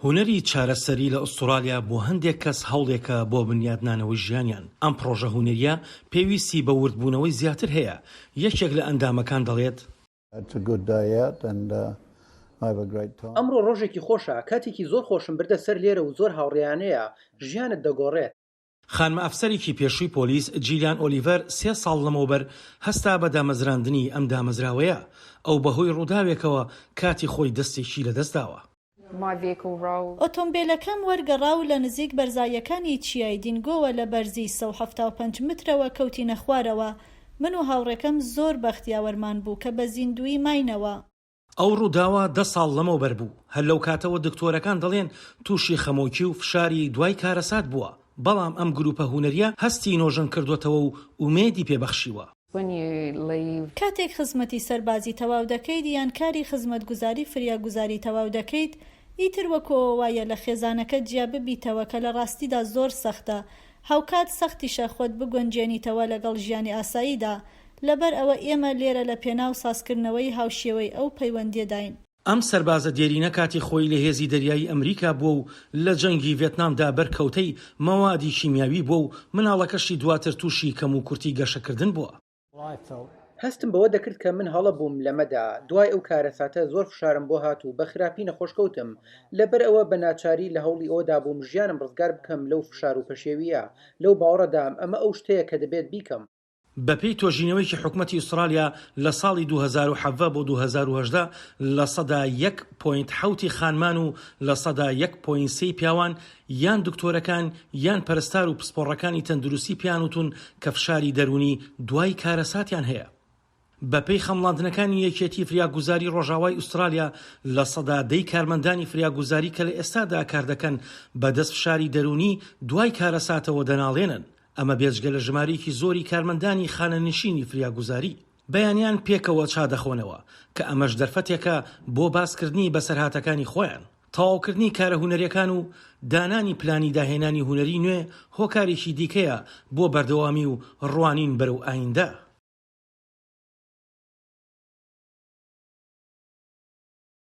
هونەری چارەسەری لە ئوستورالیا بۆ هەندێک کەس هەوڵێکە بۆ بنیادنانەوەی ژیانیان، ئەم پڕۆژە هونەرییە پێویستی بە وردبوونەوەی زیاتر هەیە، یەکێک لە ئەندامەکان دەڵێت. ئەمڕۆ ڕۆژێکی خۆشە، کاتێکی زۆر خۆشم بردە سەر لێرە و زۆر هاوڕێیانەیە، ژیانت دەگۆڕێت. خانمە ئەفسەرێکی پێشووی پۆلیس جیلیان ئۆلیڤەر سێ ساڵ لەمەوبەر هەستا بە دامەزراندنی ئەم دامەزراوەیە، ئەو بەهۆی ڕووداوێکەوە کاتی خۆی دەستێکی لەدەستداوە. ئۆتۆمبێلەکەم وەرگەڕا و لە نزیک بەرزاییەکانی چیای دینگۆوە لە بەرزی سەد و حەفتا و پەنج مترەوە کەوتینە خوارەوە، من و هاوڕێکەم زۆر بەخت یاوەرمان بوو کە بە زیندووی ماینەوە. ئەو ڕووداوە دە ساڵ لەمەوبەر بوو، هەر لەو کاتەوە دکتۆرەکان دەڵێن تووشی خەمۆکی و فشاری دوای کارەسات بووە، بەڵام ئەم گرووپە هونەرییە هەستی نۆژەن کردووەتەوە و ئومێدی پێ بەخشیوە. کاتێک خزمەتی سەربازی تەواو دەکەیت یان کاری خزمەتگوزاری فریاگوزاری تەواو دەکەیت، ئیتر وەکوو ئەوە وایە لە خێزانەکەت جیا ببیتەوە کە لە ڕاستیدا زۆر سەختە، هاوکات سەختیشە خۆت بگونجێنیتەوە لەگەڵ ژیانی ئاساییدا، لەبەر ئەوە ئێمە لێرە لە پێناو سازکردنەوەی هاوشێوەی ئەو پەیوەندیەداین. ئەم سەربازە دێرینە کاتی خۆی لە هێزی دەریایی ئەمریکا بووە و لە جەنگی ڤێتنامدا بەرکەوتەی مەوادی کیمیاوی بووە و مناڵەکەشی دواتر تووشی کەموکورتی گەشەکردن بووە. هەستم بەوە دەکرد کە من هەڵە بووم لەمەدا، دوای ئەو کارەساتە زۆر فشارم بۆ هات و بە خراپی نەخۆش کەوتم، لەبەر ئەوە بە ناچاری لە هەوڵی ئەوەدا بووم ژیانم ڕزگار بکەم لەو فشار و پەشێوییە، لەو باوەڕەدام ئەمە ئەو شتەیە کە دەبێت بیکەم. بەپێی تۆژینەوەیەکی حکومەتی ئوسترالیا لە ساڵی دوو هەزار و حەڤدە بۆ دوو هەزار و هەژدە لە سەدا یەک پۆینت حەوتی خانمان و لە سەدا یەک پۆینت سێی پیاوان یان دکتۆرەکان یان پەرستار و پسپۆڕەکانی تەندروستی پێیان وتوون کە فشاری دەروونی دوای کارەساتیان هەیە. بەپێی خەمڵاندنەکانی یەکێتی فریاگوزاری ڕۆژاوای ئوسترالیا، لە سەدا دەی کارمەندانی فریاگوزاری کە لە ئێستادا کاردەکەن بەدەست فشاری دەروونی دوای کارەساتەوە دەناڵێنن، ئەمە بێجگە لە ژمارەیەکی زۆری کارمەندانی خانەنشینی فریاگوزاری. بەیانیان پێکەوە چا دەخۆنەوە، کە ئەمەش دەرفەتێکە بۆ باسکردنی بەسەرهاتەکانی خۆیان. تەواوکردنی کارە هونەریەکان و دانانی پلانی داهێنانی هونەری نوێ هۆکارێکی دیکەیە بۆ بەردەوامی و ڕوانین بەرەو ئایندە.